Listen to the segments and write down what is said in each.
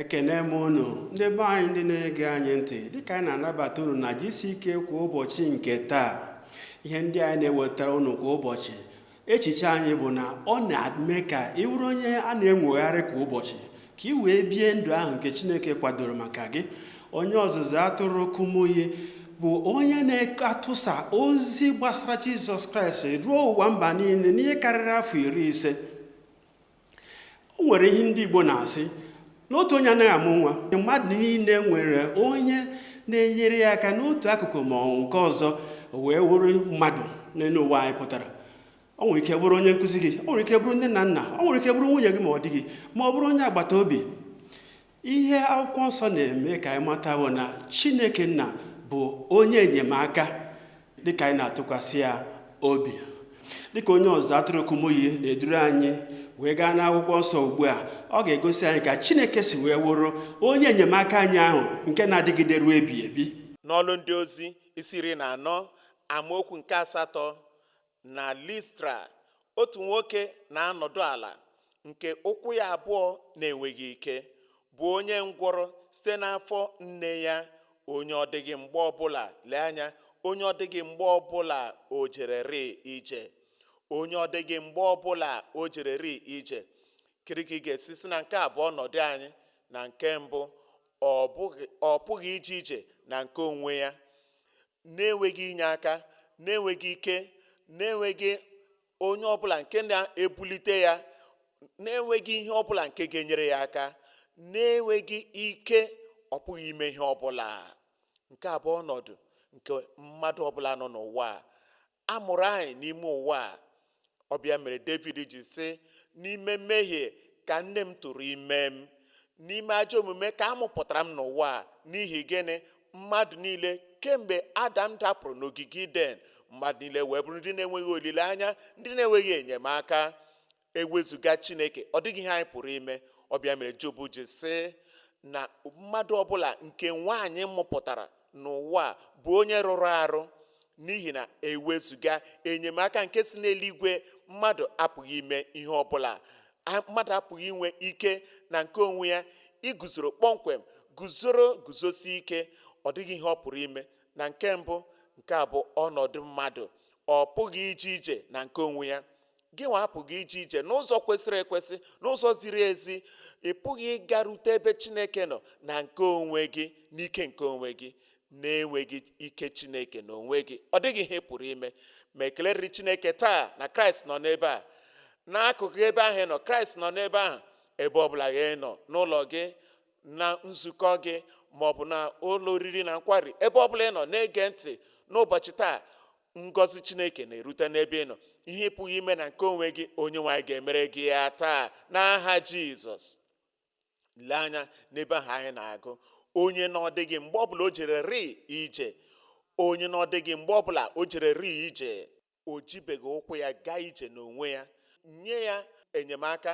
ekene m unu ndị be anyị ndị na-ege anyị ntị dịka anyị na-anabata unu na GCK kwa ụbọchị nke taa ihe ndị anyị na-ewetara unu kwa ụbọchị echiche anyị bụ na ọ na-eme ka ị wụrụ onye a na-enwogharị kwa ụbọchị ka ị wee bie ndụ ahụ nke Chineke kwadoro maka gị onye ọzụzụ atụrụ Kumuyi bụ onye na-atụsa ozi gbasara Jizọs Kraịst ruo ụwa mba niile n'ihe karịrị afọ iri ise o nwere ihe ndị Igbo na-asị na otu onye anaghị amụ nwa mmadụ niile nwere onye na-enyere ya aka n'otu akụkụ ma ọ wụ nke ọzọ wee wụrụ mmadụ n'elu ụwa anyị pụtara o nwere ike bụrụ onye nkụzi gị o nwere ike bụrụ nne na nna o nwere ike bụrụ nwunye gị ma ọ di gị ma ọ bụrụ onye agbata obi ihe akwụkwọ nsọ na-eme ka anyị mata bụ na chineke nna bụ onye enyemaka dịka anyị na-atụkwasị ya obi dịka onye ọzụzụ atụrụ Kumuyi na-eduru anyị wee gaa n'akwụkwọ nsọ ugbu a ọ ga-egosi anyị ka chineke si wee wụrụ onye enyemaka anyị ahụ nke na-adịgide ruo ebi ebi n'ọlụ ndị ozi isi iri na anọ amaokwu nke asatọ Na Listra, otu nwoke na-anọdụ ala nke ụkwụ ya abụọ na-enweghị ike, bụ onye ngwọrọ site n'afọ nne ya, onye ọ dịghị mgbe ọbụla lee anya, onye ọ dịghị mgbe ọbụla o jererị ije, onye ọ dịghị mgbe ọbụla o jererị ije. Kedu ka ị ga-esi sị na nke a bụ ọnọdụ anyị? Na nke mbụ, ọ pụghị ije ije na nke onwe ya. na-enweghị inye aka na-enweghị ike na-enweghị onye ọbụla nke na-ebulite ya na-enweghị ihe ọbụla nke ga-enyere ya aka na-enweghị ike ọ pụghị ime ihe ọbụla nke a bụ ọnọdụ nke mmadụ ọbụla nọ n'ụwa a a mụrụ anyị n'ime ụwa a ọ bụ ya mere David ji sị n'ime mmehie ka nne m tụrụ ime m n'ime ajọ omume ka a mụpụtara m n'ụwa a n'ihi gịnị mmadụ niile kemgbe Adam dapụrụ n'ogige Iden mmadụ niile wee bụrụ ndị na-enweghị olileanya ndị na-enweghị enyemaka ewezụga chineke ọ dịghị ihe anyị pụrụ ime ọ bụ ya mere Job ji sị na mmadụ ọbụla nke nwaanyị mụpụtara n'ụwa a bụ onye rụrụ arụ n'ihi na ewezụga enyemaka nke si n'eluigwe mmadụ apụghị ime ihe ọbụla mmadụ apụghị inwe ike na nke onwe ya iguzoro kpọmkwem guzoro guzosi ike ọ dịghị ihe ọ pụrụ ime na nke mbụ nke a bụ ọnọdụ mmadụ ọ pụghị ije ije na nke onwe ya gị nwa apụghị ije ije n'ụzọ kwesịrị ekwesị n'ụzọ ziri ezi ị pụghị ịgarute ebe chineke nọ na nke onwe gị n'ike nke onwe gị na-enweghị ike chineke na onwe gị ọ dịghị ihe ị pụrụ ime ma ekele rịrị chineke taa na kraịst nọ n'ebe a n'akụkụ ebe ahụ ị nọ kraịst nọ n'ebe ahụ ebe ọbụla gị nọ n'ụlọ gị na nzukọ gị maọbụ na ụlọ oriri na nkwari ebe ọbụla ị nọ na-ege ntị n'ụbọchị taa ngọzi chineke na-erute n'ebe ị nọ ihe ị pụghị ime na nke onwe gị onye nwe anyị ga-emere gị ya taa n'aha jizọs lee anya n'ebe ahụ anyị na-agụ onye na ọ dịghị mgbe ọbụla o jere ri ije onye na ọ dịghị mgbe ọbụla o jere ri ije o jibeghị ụkwụ ya gaa ije n'onwe ya nye ya enyemaka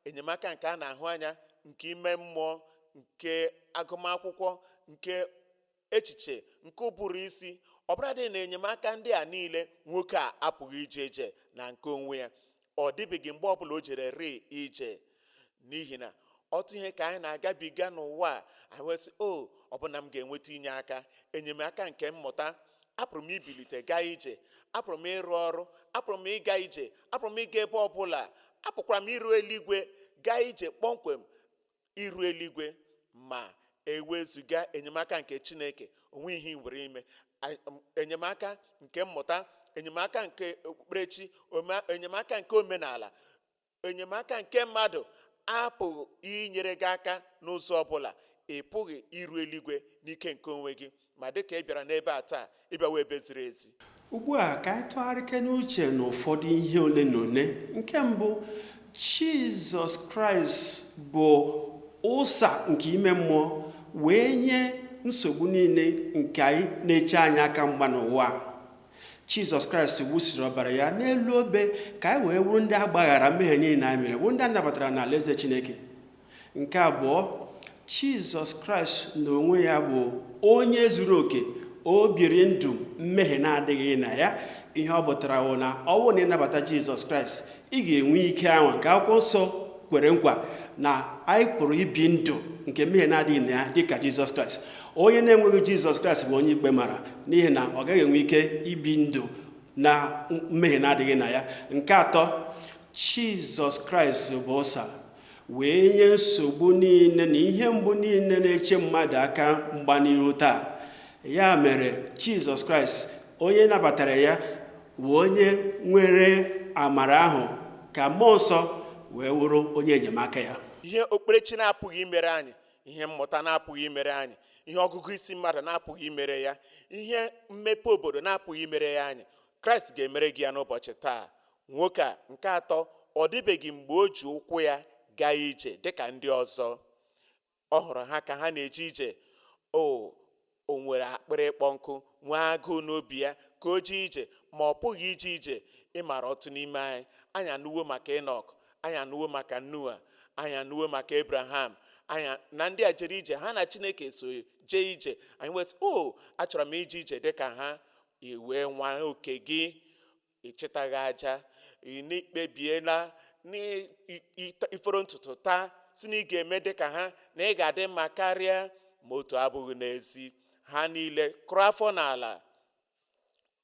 enyemaka nke a na-ahụ anya nke ime mmụọ nke agụmakwụkwọ nke echiche nke ụbụrụ isi ọbụladị na enyemaka ndị a niile nwoke a apụghị ije ije na nke onwe ya ọ dịbeghị mgbe ọbụla o jere ri ije n'ihi na otu ihe ka anyị na-agabiga n'ụwa a anyị wee sị o ọ bụ na m ga-enweta inye aka enyemaka nke mmụta apụrụ m ibilite gaa ije apụrụ m ịrụ ọrụ apụrụ m ịga ije apụrụ m ịga ebe ọbụla apụkwara m iru eluigwe gaa ije kpọmkwem iru eluigwe ma ewezuga enyemaka nke Chineke o nwee ihe ị nwere ime enyemaka nke mmụta enyemaka nke okpukperechi enyemaka nke omenala enyemaka nke mmadụ apụghị inyere gị aka n'ụzọ ọbụla ị pụghị iru eluigwe n'ike nke onwe gị Ma dị ka ị bịara n'ebe a taa, ị bịawa ebe ziri ezi. Ugbu a, ka anyị tụgharịke n'uche n'ụfọdụ ihe ole na ole. Nke mbụ, Jizọs Kraịst bụ ụsa nke ime mmụọ wee nye nsogbu niile nke anyị na-eche anyị aka mgba n'ụwa a. Jizọs Kraịst wụsịrị ọbara ya n'elu obe ka anyị wee wụrụ ndị a gbaghara mmehie niile anyị mere, wụrụ ndị a nabatara n'Alaeze Chineke. nke abụọ jizọs kraịst n'onwe ya bụ onye zuru oke o biri ndụ mmehie na-adịghị na ya ihe ọ pụtara wụ na ọ bụrụ na ị nabata jizọs kraịst ị ga-enwe ike ahụ nke akwụkwọ nsọ kwere nkwa na anyị pụrụ ibi ndụ nke mmehie na-adịghị na ya dịka jizọs kraịst onye na-enweghị jizọs kraịst bụ onye ikpe mara n'ihi na ọ gaghị enwe ike ibi ndụ na mmehie na-adịghị na ya nke atọ jizọs kraịst bụ ụsa wee nye nsogbu niile na ihe mgbu niile na-eche mmadụ aka mgba n'ihu taa ya mere jizọs kraịst onye nabatara ya wụ onye nwere amara ahụ ka mmụọ nsọ wee wụrụ onye enyemaka ya ihe okpukperechi na-apụghị imere anyị ihe mmụta na-apụghị imere anyị ihe ọgụgụ isi mmadụ na-apụghị imere ya ihe mmepe obodo na-apụghị imere ya anyị kraịst ga-emere gị ya n'ụbọchị taa Nwoke a nke atọ ọ dịbeghị mgbe o ji ụkwụ ya gaa ije dị ka ndị ọzọ. Ọ hụrụ ha ka ha na-eje ije. O o nwere akpịrị ịkpọ nkụ, nwee agụụ n'obi ya ka o jee ije, ma ọ pụghị ije ije. Ị maara ọtụtụ n'ime anyị, anyị anụwo maka Ịnọk, anyị anụwo maka Noa, anyị anụwo maka Ebraham, anyị na ndị a jere ije ha na Chineke so jee ije. Anyị wee sị, O, achọrọ m ije ije dị ka ha. I wee nwaa oke gị. Ị chịtaghị aja, na i kpebiela na ị- ị- ị- i foro ntutu taa sị na ị ga-eme dị ka ha na ị ga-adị mma karịa ma otu abụghị n'ezi ha niile kụrụ afọ n'ala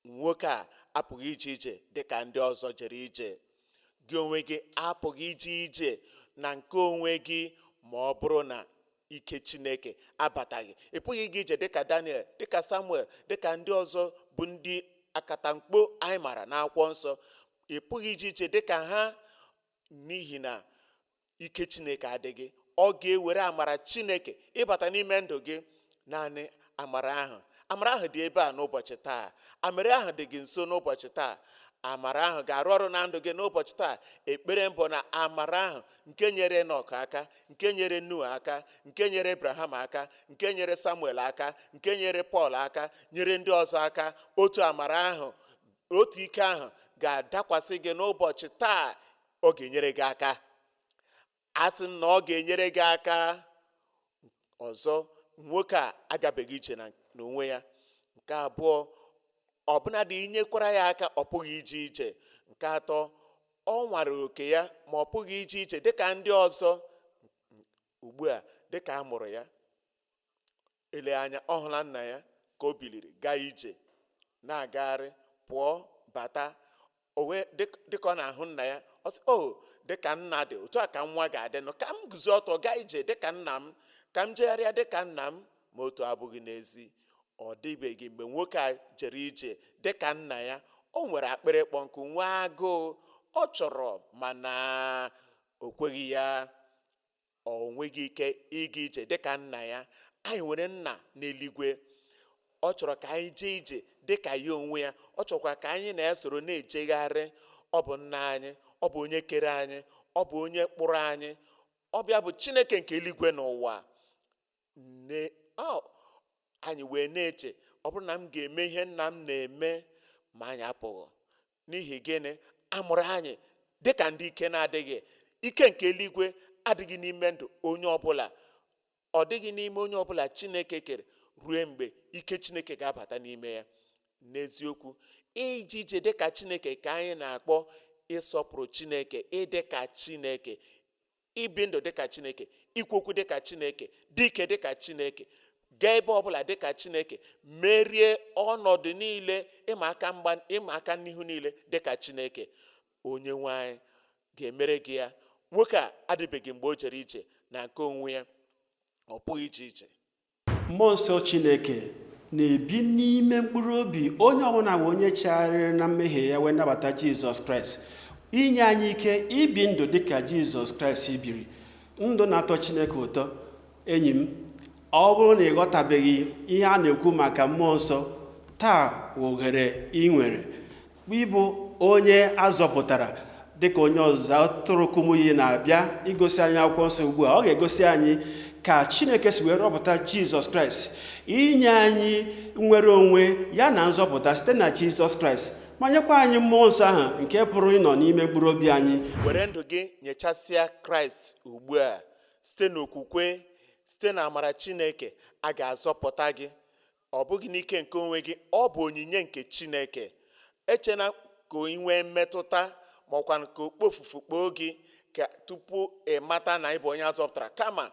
nwoke a apụghị ije ije dị ka ndị ọzọ jere ije gị onwe gị apụghị ije ije na nke onwe gị ma ọ bụrụ na ike chineke abataghị ị pụghị ije ije dịka daniel dịka samuel dịka ndị ọzọ bụ ndị akatamkpo anyị mara n'akwụkwọ nsọ ị pụghị ije ije dịka ha n'ihi na ike chineke adịghị ọ ga-ewere amara chineke ịbata n'ime ndụ gị naanị amara ahụ amara ahụ dị ebe a n'ụbọchị taa amara ahụ dị gị nso n'ụbọchị taa amara ahụ ga-arụ ọrụ na ndụ gị n'ụbọchị taa ekpere m bụ na amara ahụ nke nyere enọk aka nke nyere noa aka nke nyere abraham aka nke nyere samuel aka nke nyere pọl aka nyere ndị ọzọ aka otu amara ahụ otu ike ahụ ga-adakwasị gị n'ụbọchị taa ọ ga-enyere gị aka asị m na ọ ga-enyere gị aka ọzọ nwoke a agabeghị ije n'onwe ya nke abụọ ọbụnadị i nyekwara ya aka ọ pụghị ije ije nke atọ ọ nwara oke ya ma ọ pụghị ije ije dịka ndị ọzọ ugbu a dịka a mụrụ ya Ele anya ọ hụla nna ya ka o biliri gaa ije, na-agagharị, pụọ, bata. O wee dị ka- dị ka ọ na-ahụ nna ya, ọ sị, O, dị ka nna dị, otu a ka nwa ga-adị nụ. Ka m guzo ọtọ gaa ije dị ka nna m, ka m jegharịa dị ka nna m. Ma otu abụghị n'ezi. Ọ dịbeghị mgbe nwoke a jere ije dị ka nna ya. O nwere akpịrị ịkpọ nkụ, nwee agụụ. Ọ chọrọ mana o kweghị ya. O nweghị ike ịga ije dị ka Nna ya. Anyị nwere Nna n'eluigwe. Ọ chọrọ ka anyị jee ije dị ka ya onwe ya. Ọ chọọkwa ka anyị na ya soro na-ejegharị. Ọ bụ Nna anyị. Ọ bụ onye kere anyị. Ọ bụ onye kpụrụ anyị. Ọ bụ ya bụ Chineke nke eluigwe na ụwa. Ne, ọ, anyị wee na-eche, ọ bụrụ na m ga-eme ihe nna m na-eme, ma anyị apụghị. N'ihi gịnị? A mụrụ anyị dị ka ndị ike na-adịghị. Ike nke eluigwe adịghị n'ime ndụ onye ọbụla. Ọ dịghị n'ime onye ọbụla Chineke kere ruo mgbe ike Chineke ga-abata n'ime ya. N'eziokwu, ije ije dị ka Chineke ka anyị na-akpọ ịsọpụrụ Chineke, ịdị ka Chineke, ibi ndụ dị ka chineke ikwu okwu dị ka chineke dị ike dị ka chineke gaa ebe ọbụla dị ka chineke merie ọnọdụ niile mgba ịma aka n'ihu niile dị ka chineke onye nwe anyị ga-emere gị ya nwoke a adịbeghị mgbe o jere ije na nke onwe ya ọ pụghị ije ije mmụọ nsọ chineke na-ebi n'ime mkpụrụ obi onye ọbụla bụ onye chegharịrị na mmehie ya wee nabata jizọs kraịst inye anyị ike ibi ndụ dị ka jizọs kraịst biri ndụ na-atọ chineke ụtọ enyi m ọ bụrụ na ị ghọtabeghị ihe a na-ekwu maka mmụọ nsọ taa ohere ị nwere ịbụ onye a zọpụtara dịka onye ọzụzụ atụrụ kumuyi na-abịa igosi anyị akwụkwọ nsọ ugbu a ọ ga-egosi anyị ka chineke si wee rọpụta jizọs kraịst inye anyị nnwere onwe ya na nzọpụta site na jizọs kraịst ma nyekwa anyị mmụọ nsọ ahụ nke pụrụ ịnọ n'ime mkpụrụ obi anyị were ndụ gị nyechasịa kraịst ugbu a site n'okwukwe site na amara chineke a ga-azọpụta gị Ọ bụghị n'ike nke onwe gị, ọ bụ onyinye nke Chineke. Echena ka ị nwee mmetụta ma ọkwanụ ka okpofufu kpoo gị ka tupu ị mata na ị bụ onye a zọpụtara kama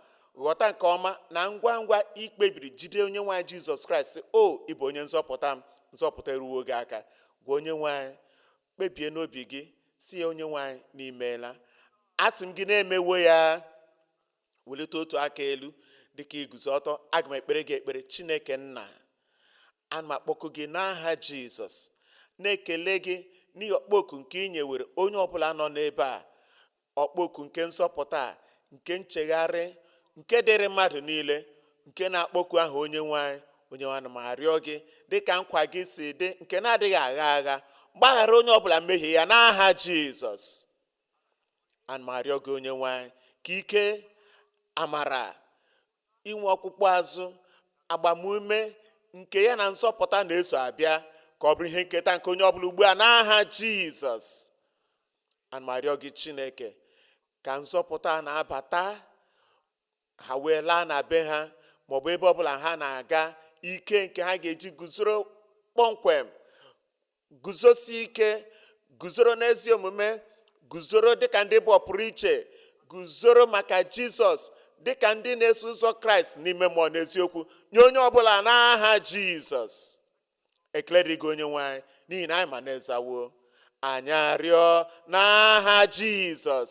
ghọta nke ọma na ngwa ngwa ị kpebiri jide onye nwe anyị Jizọs Kraịst sị o ị bụ onye nzọpụta m nzọpụta eruwo gị aka gwa onye nwe anyị kpebie n'obi gị sị ya onye nwe anyị na i meela asị m gị na e mewo ya welite otu aka elu dịka i guzo ọtọ aga m ekpere gị ekpere chineke nna ana m akpọku gị n'aha jizọs na-ekele gị n'ihi ọkpọku nke ị nyewere onye ọbụla nọ n'ebe a ọkpọku nke nzọpụta a, nke nchegharị nke dịrị mmadụ niile nke na-akpọku aha onye nwe anyị onye nwe anyị ana m arịọ gị dịka nkwa gị si dị nke na-adịghị agha agha gbaghara onye ọbụla mmehie ya n'aha jizọs ana m arịọ gị onye nwe anyị ka ike amara inwe ọkpụkpụ azụ agbamume nke ya na nzọpụta na-eso abịa ka ọ bụrụ ihe nketa nke onye ọbụla ugbu a n'aha jizọs ana m arịọ gị chineke ka nzọpụta na-abata ha wee laa na be ha maọbụ ebe ọbụla ha na-aga ike nke ha ga-eji guzoro kpọmkwem guzosi ike guzoro n'ezi omume guzoro dịka ndị bụ ọpụrụ iche guzoro maka jizọs dịka ndị na-eso ụzọ kraịst n'ime mmụọ n'eziokwu nye onye ọbụla n'aha jizọs ekele dịrị gị onye nwe anyị n'ihi na anyị ma na ị zawo anyị arịọ n'aha jizọs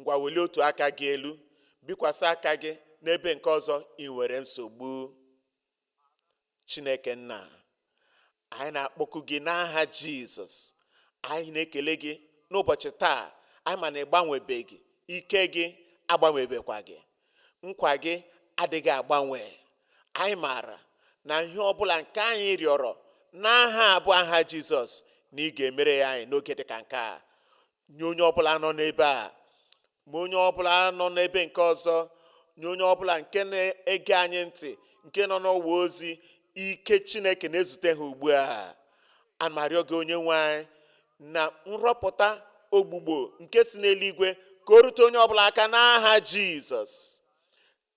ngwa welie otu aka gị elu bikwasị aka gị n'ebe nke ọzọ ị nwere nsogbu chineke nna anyị na-akpọku gị n'aha jizọs anyị na-ekele gị n'ụbọchị taa anyị ma na ị gbanwebeghị ike gị agbanwebekwaghị nkwa gị adịghị agbanwe anyị maara na ihe ọbụla nke anyị rịọrọ n'aha a bụ aha jizọs na ị ga-emere ya anyị n'oge dị ka nke a nye onye ọbụla nọ n'ebe a ma onye ọbụla nọ n'ebe nke ọzọ nye onye ọbụla nke na-ege anyị ntị nke nọ n'ọwa ozi ike chineke na-ezute ha ugbu a ana m arịọ gị onye nwe anyị na nrụpụta ọgwụgwọ nke si n'eluigwe ka o rute onye ọbụla aka n'aha jizọs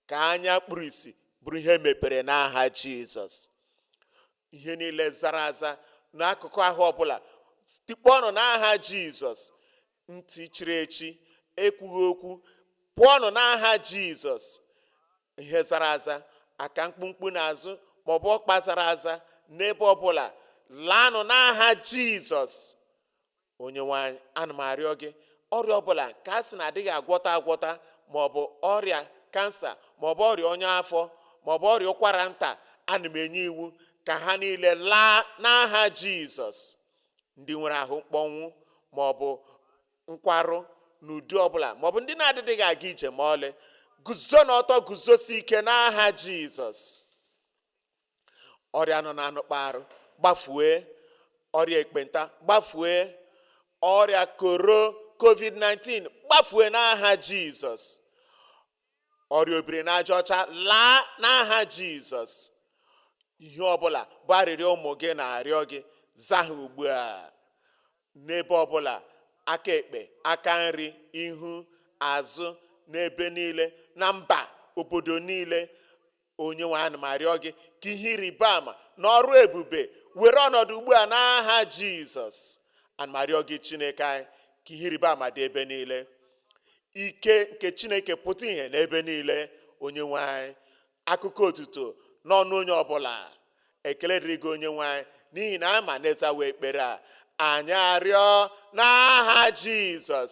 ka anya kpuru isi bụrụ ihe mepere n'aha jizọs ihe niile zara aza n'akụkụ ahụ ọbụla tikpọọnụ n'aha jizọs ntị chiri echi ekwughị okwu pụọnụ n'aha jizọs ihe zara aza aka mkpumkpu n'azụ maọbụ ọkpa zara aza n'ebe ọbụla laanụ n'aha jizọs onye nwe anyị ana m arịọ gị ọrịa ọbụla ka a sị na adịghị agwọta agwọta maọbụ ọrịa kansa maọbụ ọrịa ọnya afọ maọbụ ọrịa ụkwara nta ana m enye iwu ka ha niile laa n'aha jizọs ndị nwere ahụ mkpọnwụ maọbụ nkwarụ n'ụdị ọbụla maọbụ ndị na-adịdịghị aga ije ma ọlị guzo n'ọtọ guzosi ike n'aha jizọs ọrịa nọ n'anụkpa arụ gbafue ọrịa ekpenta gbafue ọrịa koro covid-19 gbafue n'aha jizọs ọrịa obiri n'aja ọcha laa n'aha jizọs ihe ọbụla bụ arịrịọ ụmụ gị na-arịọ gị zaa ha ugbu a n'ebe ọbụla aka ekpe aka nri ihu azụ n'ebe niile na mba obodo niile onye nwe anyị ana m arịọ gị ka ihe ịrịba ama na ọrụ ebube were ọnọdụ ugbu a n'aha jizọs ana m arịọ gị chineke anyị ka ihe ịrịba ama dị ebe niile ike nke chineke pụta ihe n'ebe niile onye nwe anyị akụkọ otuto n'ọnụ onye ọbụla ekele dịrị gị onye nwe anyị n'ihi na a ma na ị zawo ekpere a anyị arịọ n'aha jizọs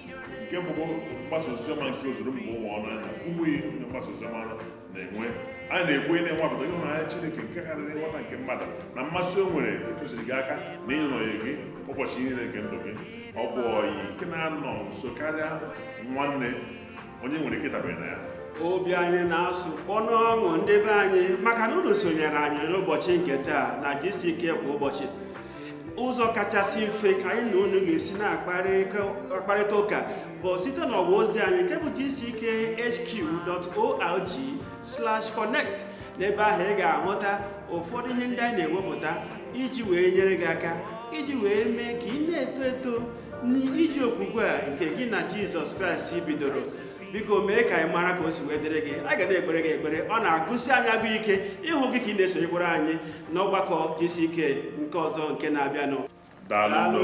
nke bụkwa mgbasa oziọma nke ozuru mba ụwa ọnụ anyị na kumuyi onye mgbasa oziọma na-enwe anyị na-ekwu ị na-anwapụta ịhụnanya Chineke nke karịrị nghọta nke mmadụ na mmasị o nwere ịtụziri gị aka na ịnọnyere gị ụbọchị niile nke ndụ gị ọ bụ ọyị nke na-anọ nso karịa nwanne onye nwere ike ịdabere na ya obi anyị na-asụ kpọ n'ọṅụ ndị be anyị maka na unu sonyere anyị n'ụbọchị nke taa na gck kwa ụbọchị ụzọ kachasị mfe anyị na unu ga-esi na-akparịta ụka bụ site n'ọwa ozi anyị nke bụ gckhq.org/connect n'ebe ahụ ị ga-ahụta ụfọdụ ihe ndị anyị na-ewepụta iji wee nyere gị aka iji wee mee ka ị na-eto eto n'ije okwukwe a nke gị na jizọs kraịst bidoro biko mee ka anyị mara ka o si wee dịrị gị a ga na-ekpere gị ekpere ọ na-agụsi anyị agụ ike ịhụ gị ka ị na-esonyekwara anyị n'ọgbakọ gck nke ọzọ nke na-abịanụ daalụ